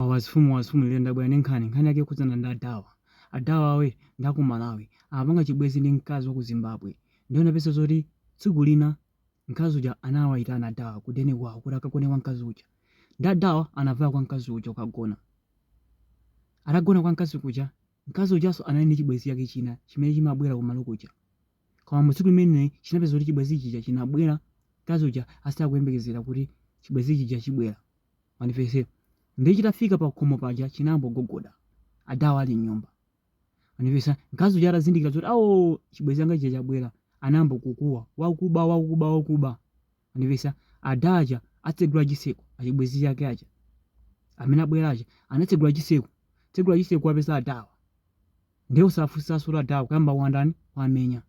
Wazifumu wazifumu lero ndabwera ndi nkhani, nkhani yake ikukhudzana ndi adawa. Adawawa ndi a ku Malawi, amapanga chibwenzi ndi mkazi wa ku Zimbabwe. Ndiye anapeza zoti tsiku lina mkazi uja anawayitana adawa ku deni kwawo kuti akagone kwa mkazi uja. Ndiye adawa anavaya kwa mkazi uja kukagona. Atagona kwa mkazi kuja, mkazi ujanso anali ndi chibwenzi chake china chimene chimabwera kumalo kuja. Koma mu tsiku limene chinapeza kuti chibwenzi chija chinabwera, mkazi uja asakuyembekezera kuti chibwenzi chija chibwera. Mwandimvetsa. Ndiye chitafika pa khomo paja chinayamba kugogoda. Adawo ali mnyumba. Mwandimvetsa. Mkazi uja atazindikira zoti awo chibwenzi changa chija chabwera, anayamba kukuwa, wakuba, wakuba, wakuba. Mwandivesa? Ada aja atsegula chitseko, achibwezi chake aja amene abwera aja anatsegula chitseko, tsegula chitseko awapeza adawa. Ndiye osafunsanso adawa kuyamba kuwatani kuwamenya.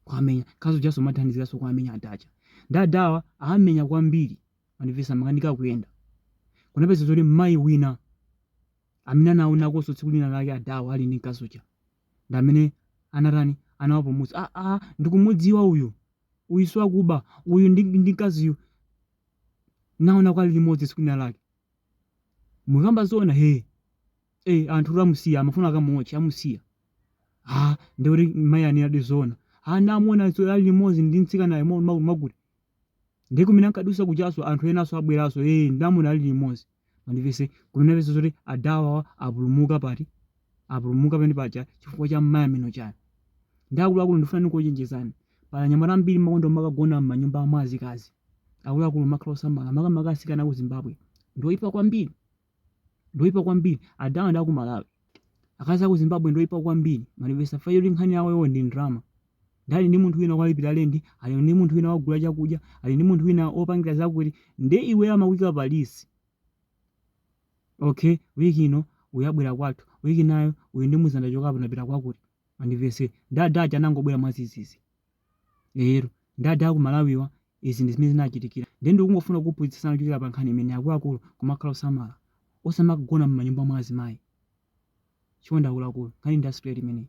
Kuwamenya mkazi ujanso amathandiziranso kuwamenya ada aja. Ndiye adawa awamenya kwambiri. Mwandimvetsa amakanika kuyenda. Kunapeza zoti mayi wina amene anaonakonso tsiku lina lake adawa ali ndi mkazi uja. Ndi amene anatani anawapulumutsa. Ah ah ndikumudziwa uyu. uyu siwakuba uyu ndi, ndi mkaziyu ndinaonako ali limodzi tsiku lina lake mukukamba zoona he e anthu nde amusiya amafuna akamuotche amusiya ha ndiye kuti mayi anenadi zoona ha ndinamuona zo- ali limodzi ndi mtsikanayo mo- ma- makuti ndiye kumene ankadutsa kujanso anthu enanso abweranso e ndamuona ali limodzi Mwandimvetsa kunapeza zoti adawawa apulumuka pati apulumuka penepaja chifukwa cha mayi amene uja nde akuluakulu ndifuna ndikuchenjezani pali anyamata ambiri amakonda kumakagona mmanyumba mwa azikazi akuluakulu kumakhala osamala makamaka atsikana aku Zimbabwe ndoipa kwambiri ndoipa kwambiri adawa ndi aku Malawi akazi aku Zimbabwe ndoipa kwambiri mwandimvetsa fayoli nkhani yawoyo ndi ndrama nde ali ndi munthu wina owalipira lendi ali ndi munthu wina wogula chakudya ali ndi munthu wina wopangira zakuti nde iwe amakuika pa list okay wiki ino uyu abwera kwathu wiki inayo uyu ndimuuza ndachokapo ndapita kwakuti mwandimvetsa nde ada aja anangobwera mwadzidzidzi lero nde ada aku Malawiwa izi ndi zimene zinawachitikira nde ndikungofuna kuphunzitsana kuchokera pa nkhani imeneyi akuluakulu kumakhala osamala osamakagona m'manyumba mwa azimayi chonde akuluakulu nkhani ndi ya straight imeneyi